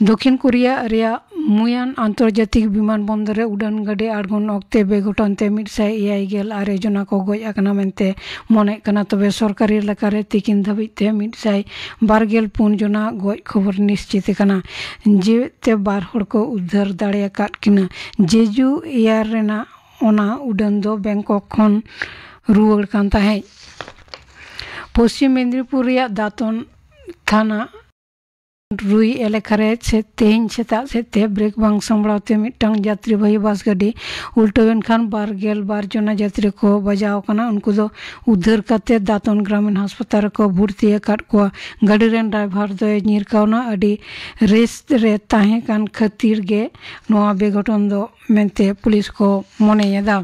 ᱫᱚᱠᱷᱤᱱ ᱠᱳᱨᱤᱭᱟ ᱨᱮᱭᱟᱜ ᱢᱩᱭᱟᱱ ᱟᱱᱛᱚᱨᱡᱟᱛᱤᱠ ᱵᱤᱢᱟᱱ ᱵᱚᱱᱫᱚᱨ ᱨᱮ ᱩᱰᱟᱹᱱ ᱜᱟᱹᱰᱤ ᱟᱬᱜᱚᱱ ᱚᱠᱛᱮ ᱵᱮᱜᱷᱚᱴᱚᱱ ᱛᱮ ᱢᱤᱫ ᱥᱟᱭ ᱮᱭᱟᱭ ᱜᱮᱞ ᱟᱨᱮ ᱡᱚᱱᱟ ᱠᱚ ᱜᱚᱡ ᱟᱠᱟᱱᱟ ᱢᱮᱱᱛᱮ ᱢᱚᱱᱮᱜ ᱠᱟᱱᱟ ᱛᱚᱵᱮ ᱥᱚᱨᱠᱟᱨᱤ ᱮᱞᱟᱠᱟ ᱨᱮ ᱛᱤᱠᱤᱱ ᱫᱷᱟᱹᱵᱤᱡ ᱛᱮ ᱢᱤᱫ ᱥᱟᱭ ᱵᱟᱨ ᱜᱮᱞ ᱯᱩᱱ ᱡᱚᱱᱟ ᱜᱚᱡ ᱠᱷᱚᱵᱚᱨ ᱱᱤᱥᱪᱤᱛ ᱟᱠᱟᱱᱟ ᱡᱮᱣᱮᱫ ᱛᱮ ᱵᱟᱨ ᱦᱚᱲ ᱠᱚ ᱩᱫᱽᱫᱷᱟᱹᱨ ᱫᱟᱲᱮ ᱟᱠᱟᱫ ᱠᱤᱱᱟ ᱡᱮᱡᱩ ᱮᱭᱟᱨ ᱨᱮᱱᱟᱜ ᱚᱱᱟ ᱩᱰᱟᱹᱱ ᱫᱚ ᱵᱮᱝᱠᱚᱠ ᱠᱷᱚᱱ ᱨᱩᱣᱟᱹᱲ ᱠᱟᱱ ᱛᱟᱦᱮᱸᱫ ᱯᱚᱪᱷᱤᱢ ᱢᱮᱫᱽᱱᱤᱯᱩᱨ ᱨᱮᱭᱟᱜ ᱫᱟᱛᱚᱱ ᱛᱷᱟᱱᱟ ᱨᱩᱭ ᱮᱞᱮᱠᱷᱟ ᱨᱮ ᱛᱮᱦᱮᱧ ᱥᱮᱛᱟᱜ ᱥᱮᱫ ᱛᱮ ᱵᱨᱮᱠ ᱵᱟᱝ ᱥᱟᱢᱵᱲᱟᱣ ᱛᱮ ᱢᱤᱫᱴᱟᱝ ᱡᱟᱛᱨᱤᱵᱟᱦᱤ ᱵᱟᱥ ᱜᱟᱹᱰᱤ ᱩᱞᱴᱟᱹᱣᱮᱱ ᱠᱷᱟᱱ ᱵᱟᱨ ᱜᱮᱞ ᱵᱟᱨ ᱡᱚᱱᱟ ᱡᱟᱛᱨᱤ ᱠᱚ ᱵᱟᱡᱟᱣ ᱟᱠᱟᱱᱟ ᱩᱱᱠᱩ ᱫᱚ ᱩᱫᱷᱟᱹᱨ ᱠᱟᱛᱮ ᱫᱟᱛᱚᱱ ᱜᱨᱟᱢᱤᱱ ᱦᱟᱥᱯᱟᱛᱟᱞ ᱨᱮᱠᱚ ᱵᱷᱩᱨᱛᱤ ᱟᱠᱟᱫ ᱠᱚᱣᱟ ᱜᱟᱹᱰᱤ ᱨᱮᱱ ᱰᱨᱟᱭᱵᱷᱟᱨ ᱫᱚᱭ ᱧᱤᱨ ᱠᱟᱣᱱᱟ ᱟᱹᱰᱤ ᱨᱮᱥᱴ ᱨᱮ ᱛᱟᱦᱮᱸ ᱠᱟᱱ ᱠᱷᱟᱹᱛᱤᱨ ᱜᱮ ᱱᱚᱣᱟ ᱵᱮᱜᱷᱚᱴᱚᱱ ᱫᱚ ᱢᱮᱱᱛᱮ ᱯᱩᱞᱤᱥ ᱠᱚ ᱢᱚᱱᱮᱭᱮᱫᱟ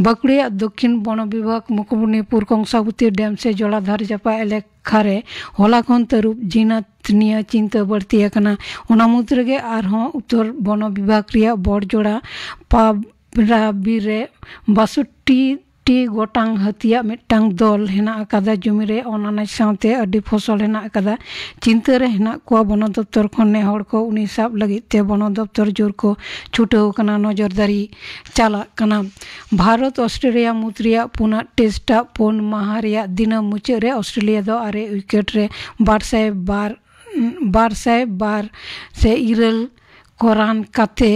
ᱵᱟᱸᱠᱩᱲᱟ ᱫᱚᱠᱷᱤᱱ ᱵᱚᱱᱚ ᱵᱤᱵᱷᱟᱜᱽ ᱢᱩᱠᱩᱴᱢᱚᱱᱤᱯᱩᱨ ᱠᱚᱝᱥᱟᱵᱚᱛᱤ ᱰᱮᱢ ᱥᱮ ᱡᱚᱞᱟᱫᱷᱟᱨ ᱡᱟᱯᱟᱜ ᱮᱞᱮᱠ ᱠᱷᱟᱨᱮ ᱦᱚᱞᱟ ᱠᱷᱚᱱ ᱛᱟᱹᱨᱩᱵ ᱡᱤᱱᱟᱛ ᱱᱤᱭᱟᱹ ᱪᱤᱱᱛᱟᱹ ᱵᱟᱹᱲᱛᱤ ᱟᱠᱟᱱᱟ ᱚᱱᱟ ᱢᱩᱫᱽ ᱨᱮᱜᱮ ᱟᱨᱦᱚᱸ ᱩᱛᱛᱚᱨ ᱵᱚᱱᱚ ᱵᱤᱵᱷᱟᱜᱽ ᱨᱮᱭᱟᱜ ᱵᱚᱲᱡᱚᱲᱟ ᱯᱟᱵᱽᱨᱟ ᱵᱤᱨ ᱨᱮ ᱵᱟᱥᱚᱴᱴᱤ ᱴᱤ ᱜᱚᱴᱟᱝ ᱦᱟᱹᱛᱤᱭᱟᱜ ᱢᱤᱫᱴᱟᱝ ᱫᱚᱞ ᱦᱮᱱᱟᱜ ᱟᱠᱟᱫᱟ ᱡᱚᱢᱤ ᱨᱮ ᱚᱱᱟᱱᱟᱡᱽ ᱥᱟᱶᱛᱮ ᱟᱹᱰᱤ ᱯᱷᱚᱥᱚᱞ ᱦᱮᱱᱟᱜ ᱟᱠᱟᱫᱟ ᱪᱤᱱᱛᱟᱹ ᱨᱮ ᱦᱮᱱᱟᱜ ᱠᱚᱣᱟ ᱵᱚᱱᱚ ᱫᱚᱯᱛᱚᱨ ᱠᱷᱚᱱ ᱱᱮ ᱦᱚᱲ ᱠᱚ ᱩᱱᱤ ᱥᱟᱵ ᱞᱟᱹᱜᱤᱫ ᱛᱮ ᱵᱚᱱᱚ ᱫᱚᱯᱛᱚᱨ ᱡᱳᱨ ᱠᱚ ᱪᱷᱩᱴᱟᱹᱣ ᱟᱠᱟᱱᱟ ᱱᱚᱡᱚᱨᱫᱟᱨᱤ ᱪᱟᱞᱟᱜ ᱠᱟᱱᱟ ᱵᱷᱟᱨᱚᱛ ᱚᱥᱴᱨᱮᱞᱤᱭᱟ ᱢᱩᱫᱽ ᱨᱮᱭᱟᱜ ᱯᱩᱱᱟᱜ ᱴᱮᱥᱴ ᱟᱜ ᱯᱩᱱ ᱢᱟᱦᱟ ᱨᱮᱭᱟᱜ ᱫᱤᱱᱟᱹᱢ ᱢᱩᱪᱟᱹᱫ ᱨᱮ ᱚᱥᱴᱨᱮᱞᱤᱭᱟ ᱫᱚ ᱟᱨᱮ ᱩᱭᱠᱮᱴ ᱨᱮ ᱵᱟᱨ ᱥᱟᱭ ᱵᱟᱨ ᱵᱟᱨ ᱥᱟᱭ ᱵᱟᱨ ᱥᱮ ᱤᱨᱟᱹᱞ ᱠᱚ ᱨᱟᱱ ᱠᱟᱛᱮ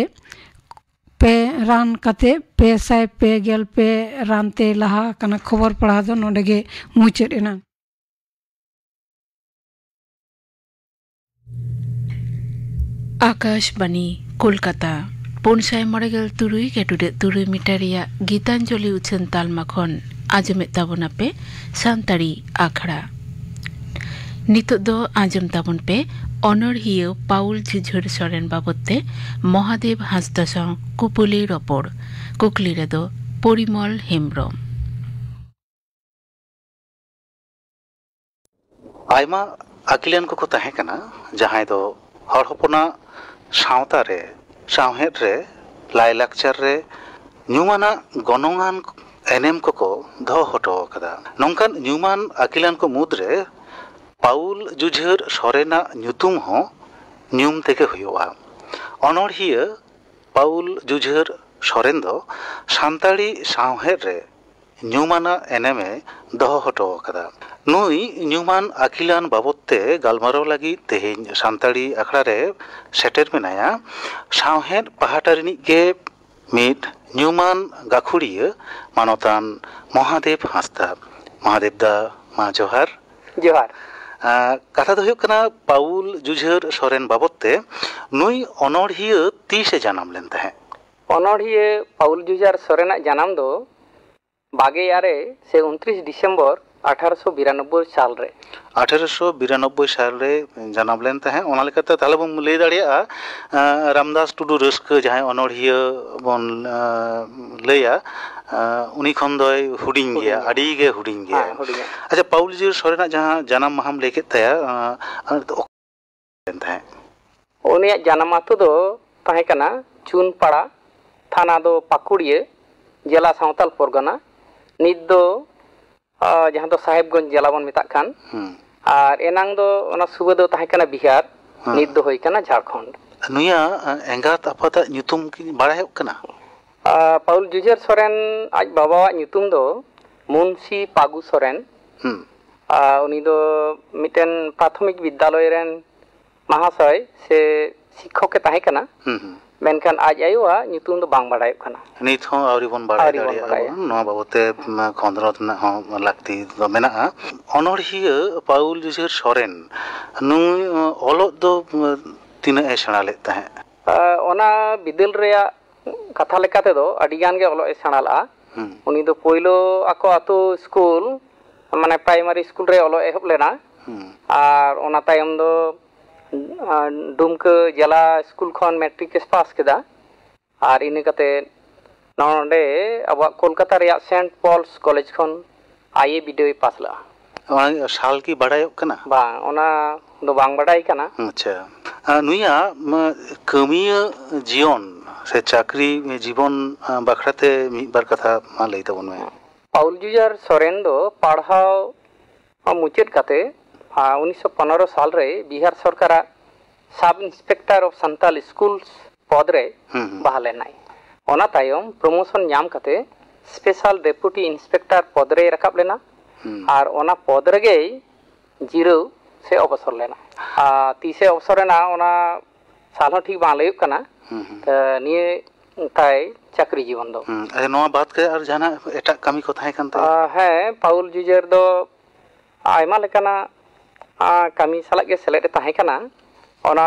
ᱯᱮ ᱨᱟᱱ ᱠᱟᱛᱮ ᱯᱮ ᱥᱟᱭ ᱯᱮ ᱜᱮᱞ ᱯᱮ ᱨᱟᱱ ᱛᱮ ᱞᱟᱦᱟ ᱟᱠᱟᱱᱟ ᱠᱷᱚᱵᱚᱨ ᱯᱟᱲᱦᱟᱣ ᱫᱚ ᱱᱚᱰᱮ ᱜᱮ ᱢᱩᱪᱟᱹᱫ ᱮᱱᱟ ᱟᱠᱟᱥᱵᱟᱱᱤ ᱠᱳᱞᱠᱟᱛᱟ ᱯᱩᱱ ᱥᱟᱭ ᱢᱚᱬᱮ ᱜᱮᱞ ᱛᱩᱨᱩᱭ ᱜᱮᱴᱩᱰᱮᱡ ᱛᱩᱨᱩᱭ ᱢᱤᱴᱟᱨ ᱨᱮᱭᱟᱜ ᱜᱤᱛᱟᱧᱡᱚᱞᱤ ᱩᱪᱷᱟᱹᱱ ᱛᱟᱞᱢᱟ ᱠᱷᱚᱱ ᱟᱸᱡᱚᱢᱮᱫ ᱛᱟᱵᱚᱱᱟ ᱯᱮ ᱥᱟᱱᱛᱟᱲᱤ ᱟᱠᱷᱲᱟ ᱱᱤᱛᱚᱜ ᱫᱚ ᱟᱸᱡᱚᱢ ᱛᱟᱵᱚᱱ ᱯᱮ ᱚᱱᱚᱲᱦᱤᱭᱟᱹ ᱯᱟᱣᱩᱞ ᱡᱷᱤᱡᱷᱩᱨ ᱥᱚᱨᱮᱱ ᱵᱟᱵᱚᱛ ᱛᱮ ᱢᱚᱦᱟᱫᱮᱵ ᱦᱟᱸᱥᱫᱟ ᱥᱟᱶ ᱠᱩᱯᱩᱞᱤ ᱨᱚᱯᱚᱲ ᱠᱩᱠᱞᱤ ᱨᱮᱫᱚ ᱯᱚᱨᱤᱢᱚᱞ ᱦᱮᱢᱵᱨᱚᱢ ᱟᱭᱢᱟ ᱟᱹᱠᱤᱞᱟᱱ ᱠᱚᱠᱚ ᱛᱟᱦᱮᱸ ᱠᱟᱱᱟ ᱡᱟᱦᱟᱸᱭ ᱫᱚ ᱦᱚᱲ ᱦᱚᱯᱚᱱᱟᱜ ᱥᱟᱶᱛᱟ ᱨᱮ ᱥᱟᱶᱦᱮᱫ ᱨᱮ ᱞᱟᱭᱼᱞᱟᱠᱪᱟᱨ ᱨᱮ ᱧᱩᱢᱟᱱᱟᱜ ᱜᱚᱱᱚᱝᱟᱱ ᱮᱱᱮᱢ ᱠᱚᱠᱚ ᱫᱚᱦᱚ ᱦᱚᱴᱚ ᱟᱠᱟᱫᱟ ᱱᱚᱝᱠᱟᱱ ᱧᱩᱢᱟᱱ ᱟᱹᱠᱤᱞᱟᱱ ᱠᱚ ᱢᱩᱫᱽ ᱨᱮ ᱯᱟᱣᱩᱞ ᱡᱩᱡᱷᱟᱹᱨ ᱥᱚᱨᱮᱱᱟᱜ ᱧᱩᱛᱩᱢ ᱦᱚᱸ ᱧᱩᱢ ᱛᱮᱜᱮ ᱦᱩᱭᱩᱜᱼᱟ ᱚᱱᱚᱬᱦᱤᱭᱟᱹ ᱯᱟᱣᱩᱞ ᱡᱩᱡᱷᱟᱹᱨ ᱥᱚᱨᱮᱱ ᱫᱚ ᱥᱟᱱᱛᱟᱲᱤ ᱥᱟᱶᱦᱮᱫ ᱨᱮ ᱧᱩᱢᱟᱱᱟᱜ ᱮᱱᱮᱢ ᱮ ᱫᱚᱦᱚ ᱦᱚᱴᱚ ᱟᱠᱟᱫᱟ᱾ ᱱᱩᱭ ᱧᱩᱢᱟᱱ ᱟᱹᱠᱤᱞᱟᱱ ᱵᱟᱵᱚᱛ ᱛᱮ ᱜᱟᱞᱢᱟᱨᱟᱣ ᱞᱟᱹᱜᱤᱫ ᱛᱮᱦᱮᱧ ᱥᱟᱱᱛᱟᱲᱤ ᱟᱠᱷᱲᱟ ᱨᱮ ᱥᱮᱴᱮᱨ ᱢᱮᱱᱟᱭᱟ ᱥᱟᱶᱦᱮᱫ ᱯᱟᱦᱴᱟ ᱨᱤᱱᱤᱡ ᱜᱮ ᱢᱤᱫ ᱧᱩᱢᱟᱱ ᱜᱟᱹᱠᱷᱩᱲᱤᱭᱟᱹ ᱢᱟᱱᱚᱛᱟᱱ ᱢᱚᱦᱟᱫᱮᱵᱽ ᱦᱟᱸᱥᱫᱟ᱾ ᱢᱚᱦᱟᱫᱮᱵᱽ ᱫᱟ ᱢᱟ ᱡᱚᱦᱟᱨ᱾ ᱡᱚᱦᱟᱨ᱾ ᱠᱟᱛᱷᱟ ᱫᱚ ᱦᱩᱭᱩᱜ ᱠᱟᱱᱟ ᱯᱟᱣᱩᱞ ᱡᱩᱡᱷᱟᱹᱨ ᱥᱚᱨᱮᱱ ᱵᱟᱵᱚᱛ ᱛᱮ, ᱱᱩᱭ ᱚᱱᱚᱬᱦᱤᱭᱟᱹ ᱛᱤᱥ ᱮ ᱡᱟᱱᱟᱢ ᱞᱮᱱ ᱛᱟᱦᱮᱸᱫ? ᱚᱱᱚᱬᱦᱤᱭᱟᱹ ᱯᱟᱣᱩᱞ ᱡᱩᱡᱟᱨ ᱥᱚᱨᱮᱱ ᱟᱜ ᱡᱟᱱᱟᱢ ᱫᱚ ᱵᱟᱜᱮ ᱟᱨᱮ ᱥᱮ ᱩᱱᱛᱨᱤᱥ ᱰᱤᱥᱮᱢᱵᱚᱨ ᱟᱴᱷᱟᱨᱚ ᱥᱚ ᱵᱤᱨᱟᱱᱚᱵᱵᱚᱭ ᱥᱟᱞ ᱨᱮ᱾ ᱟᱴᱷᱟᱨᱚ ᱥᱚ ᱵᱤᱨᱟᱱᱚᱵᱵᱚᱭ ᱥᱟᱞ ᱨᱮᱭ ᱡᱟᱱᱟᱢ ᱞᱮᱱ ᱛᱟᱦᱮᱸᱫ ᱚᱱᱟ ᱞᱮᱠᱟᱛᱮ ᱛᱟᱦᱚᱞᱮ ᱵᱚᱱ ᱞᱟᱹᱭ ᱫᱟᱲᱮᱭᱟᱜᱼᱟ ᱨᱟᱢᱫᱟᱥ ᱴᱩᱰᱩ ᱨᱟᱹᱥᱠᱟᱹ ᱡᱟᱦᱟᱸᱭ ᱚᱱᱚᱬᱦᱤᱭᱟᱹ ᱵᱚᱱ ᱞᱟᱹᱭᱟ ᱩᱱᱤ ᱠᱷᱚᱱ ᱫᱚᱭ ᱦᱩᱰᱤᱧ ᱜᱮᱭᱟ ᱟᱹᱰᱤ ᱜᱮ ᱦᱩᱰᱤᱧ ᱜᱮᱭᱟᱭ ᱟᱪᱪᱷᱟ ᱯᱟᱣᱩᱞ ᱡᱩᱡᱟᱨ ᱥᱚᱨᱮᱱ ᱟᱜ ᱡᱟᱦᱟᱸ ᱡᱟᱱᱟᱢ ᱢᱟᱦᱟᱢ ᱞᱟᱹᱭ ᱠᱮᱫ ᱛᱟᱭᱟ ᱚᱠᱟ ᱞᱮᱱ ᱛᱟᱦᱮᱸᱫ᱾ ᱩᱱᱤᱭᱟᱜ ᱡᱟᱱᱟᱢ ᱟᱹᱛᱩ ᱫᱚ ᱛᱟᱦᱮᱸ ᱠᱟᱱᱟ ᱪᱩᱱᱯᱟᱲᱟ, ᱛᱷᱟᱱᱟ ᱫᱚ ᱯᱟᱠᱩᱲᱤᱭᱟᱹ, ᱡᱮᱞᱟ ᱥᱟᱶᱛᱟᱞ ᱯᱚᱨᱜᱟᱱᱟ, ᱱᱤᱛ ᱫᱚ ᱡᱟᱦᱟᱸ ᱫᱚ ᱥᱟᱦᱮᱵᱽᱜᱚᱸᱡᱽ ᱡᱮᱞᱟ ᱵᱚᱱ ᱢᱮᱛᱟᱜ ᱠᱟᱱ, ᱟᱨ ᱮᱱᱟᱝ ᱫᱚ ᱚᱱᱟ ᱥᱩᱵᱟᱹ ᱫᱚ ᱛᱟᱦᱮᱸ ᱠᱟᱱᱟ ᱵᱤᱦᱟᱨ, ᱱᱤᱛ ᱫᱚ ᱦᱩᱭ ᱠᱟᱱᱟ ᱡᱷᱟᱲᱠᱷᱚᱸᱰ᱾ ᱱᱩᱭᱟᱜ ᱮᱸᱜᱟᱛ ᱟᱯᱟᱛ ᱟᱜ ᱧᱩᱛᱩᱢ ᱠᱤ ᱵᱟᱲᱟᱭᱚᱜ ᱠᱟᱱᱟ? ᱯᱟᱣᱩᱞ ᱡᱩᱡᱷᱟᱹᱨ ᱥᱚᱨᱮᱱ ᱟᱡ ᱵᱟᱵᱟᱣᱟᱜ ᱧᱩᱛᱩᱢ ᱫᱚ ᱢᱩᱱᱥᱤ ᱯᱟᱜᱩ ᱥᱚᱨᱮᱱ ᱩᱱᱤ ᱫᱚ ᱢᱤᱫᱴᱮᱱ ᱯᱨᱟᱛᱷᱚᱢᱤᱠ ᱵᱤᱫᱽᱫᱟᱞᱚᱭ ᱨᱮᱱ ᱢᱟᱦᱟᱥᱚᱭ ᱥᱮ ᱥᱤᱠᱠᱷᱚᱠ ᱮ ᱛᱟᱦᱮᱸ ᱠᱟᱱᱟ ᱢᱮᱱᱠᱷᱟᱱ ᱟᱡ ᱟᱭᱳ ᱟᱜ ᱧᱩᱛᱩᱢ ᱫᱚ ᱵᱟᱝ ᱵᱟᱰᱟᱭᱚᱜ ᱠᱟᱱᱟ᱾ ᱱᱤᱛ ᱦᱚᱸ ᱟᱹᱣᱨᱤ ᱵᱚᱱ ᱵᱟᱰᱟᱭ ᱫᱟᱲᱮᱭᱟᱜᱼᱟ ᱱᱚᱣᱟ ᱵᱟᱵᱚᱛ ᱛᱮ ᱠᱷᱚᱸᱫᱽᱨᱚᱸᱫᱽ ᱨᱮᱱᱟᱜ ᱦᱚᱸ ᱞᱟᱹᱠᱛᱤ ᱫᱚ ᱢᱮᱱᱟᱜᱼᱟ᱾ ᱚᱱᱚᱬᱦᱤᱭᱟᱹ ᱯᱟᱣᱩᱞ ᱡᱩᱡᱷᱮᱨ ᱥᱚᱨᱮᱱ ᱱᱩᱭ ᱚᱞᱚᱜ ᱫᱚ ᱛᱤᱱᱟᱹᱜ ᱮ ᱥᱮᱬᱟ ᱞᱮᱫ ᱛᱟᱦᱮᱸᱫ? ᱚᱱᱟ ᱵᱤᱫᱟᱹᱞ ᱨᱮᱭᱟᱜ ᱠᱟᱛᱷᱟ ᱞᱮᱠᱟ ᱛᱮᱫᱚ ᱟᱹᱰᱤ ᱜᱟᱱ ᱜᱮ ᱚᱞᱚᱜ ᱮ ᱥᱮᱬᱟ ᱞᱟᱜᱼᱟ ᱩᱱᱤ ᱫᱚ ᱯᱳᱭᱞᱳ ᱟᱠᱚ ᱟᱛᱳ ᱥᱠᱩᱞ ᱢᱟᱱᱮ ᱯᱨᱟᱭᱢᱟᱨᱤ ᱥᱠᱩᱞ ᱨᱮ ᱚᱞᱚᱜ ᱮᱦᱚᱵ ᱞᱮᱱᱟ ᱟᱨ ᱚᱱᱟ ᱛᱟᱭᱚᱢ ᱫᱚ ᱰᱩᱢᱠᱟᱹ ᱡᱮᱞᱟ ᱥᱠᱩᱞ ᱠᱷᱚᱱ ᱢᱮᱴᱨᱤᱠ ᱮ ᱯᱟᱥ ᱠᱮᱫᱟ ᱟᱨ ᱤᱱᱟᱹ ᱠᱟᱛᱮ ᱱᱚᱰᱮ ᱟᱵᱚᱣᱟᱜ ᱠᱳᱞᱠᱟᱛᱟ ᱨᱮᱭᱟᱜ ᱥᱮᱱᱴ ᱯᱚᱞᱥ ᱠᱚᱞᱮᱡᱽ ᱠᱷᱚᱱ ᱟᱭ ᱮ ᱵᱤᱰᱟᱹᱣ ᱮ ᱯᱟᱥ ᱞᱟᱜᱼᱟ ᱚᱱᱟ ᱥᱟᱞ ᱠᱤ ᱵᱟᱰᱟᱭᱚᱜ ᱠᱟᱱᱟ? ᱵᱟᱝ, ᱚᱱᱟ ᱫᱚ ᱵᱟᱝ ᱵᱟᱰᱟᱭ ᱠᱟᱱᱟ᱾ ᱟᱪᱪᱷᱟ, ᱱᱩᱭᱟᱜ ᱠᱟᱹᱢᱤᱭᱟᱹ ᱡᱤᱭᱚᱱ ᱥᱮ ᱪᱟᱹᱠᱨᱤ ᱡᱤᱵᱚᱱ ᱵᱟᱠᱷᱨᱟ ᱛᱮ ᱢᱤᱫ ᱵᱟᱨ ᱠᱟᱛᱷᱟ ᱢᱟ ᱞᱟᱹᱭ ᱛᱟᱵᱚᱱ ᱢᱮ᱾ ᱯᱟᱣᱩᱞ ᱡᱩᱡᱟᱨ ᱥᱚᱨᱮᱱ ᱫᱚ ᱯᱟᱲᱦᱟᱣ ᱢᱩᱪᱟᱹᱫ ᱠᱟᱛᱮ ᱩᱱᱤᱥᱥᱚ ᱯᱚᱱᱮᱨᱚ ᱥᱟᱞ ᱨᱮ ᱵᱤᱦᱟᱨ ᱥᱚᱨᱠᱟᱨᱟᱜ sub inspector of Santal schools ᱯᱚᱫᱽ ᱨᱮᱭ ᱵᱟᱦᱟᱞ ᱮᱱᱟᱭ᱾ ᱚᱱᱟ ᱛᱟᱭᱚᱢ ᱯᱨᱚᱢᱚᱥᱚᱱ ᱧᱟᱢ ᱠᱟᱛᱮ ᱥᱯᱮᱥᱟᱞ ᱰᱮᱯᱩᱴᱤ ᱤᱱᱥᱯᱮᱠᱴᱟᱨ ᱯᱚᱫᱽ ᱨᱮᱭ ᱨᱟᱠᱟᱵ ᱞᱮᱱᱟ ᱟᱨ ᱚᱱᱟ ᱯᱚᱫᱽ ᱨᱮᱜᱮᱭ ᱡᱤᱨᱟᱹᱣ ᱥᱮ ᱚᱵᱚᱥᱚᱨ ᱞᱮᱱᱟ᱾ ᱛᱤᱥ ᱮ ᱚᱵᱚᱥᱚᱨ ᱮᱱᱟ ᱚᱱᱟ ᱥᱟᱞ ᱦᱚᱸ ᱴᱷᱤᱠ ᱵᱟᱝ ᱞᱟᱹᱭᱚᱜ ᱠᱟᱱᱟ᱾ ᱱᱤᱭᱟᱹ ᱛᱟᱭ ᱪᱟᱹᱠᱨᱤ ᱡᱤᱵᱚᱱ ᱫᱚ᱾ ᱟᱪᱪᱷᱟ ᱱᱚᱣᱟ ᱵᱟᱫᱽ ᱠᱟᱛᱮ ᱟᱨ ᱡᱟᱦᱟᱱᱟᱜ ᱮᱴᱟᱜ ᱠᱟᱹᱢᱤ ᱠᱚ ᱛᱟᱦᱮᱸ ᱠᱟᱱ ᱛᱟᱭᱟ? ᱦᱮᱸ ᱯᱟᱣᱩᱞ ᱡᱩᱡᱮᱨ ᱫᱚ ᱟᱭᱢᱟ ᱞᱮᱠᱟᱱᱟᱜ ᱠᱟᱹᱢᱤ ᱥᱟᱞᱟᱜ ᱜᱮ ᱥᱮᱞᱮᱫ ᱮ ᱛᱟᱦᱮᱸ ᱠᱟᱱᱟ᱾ ᱚᱱᱟ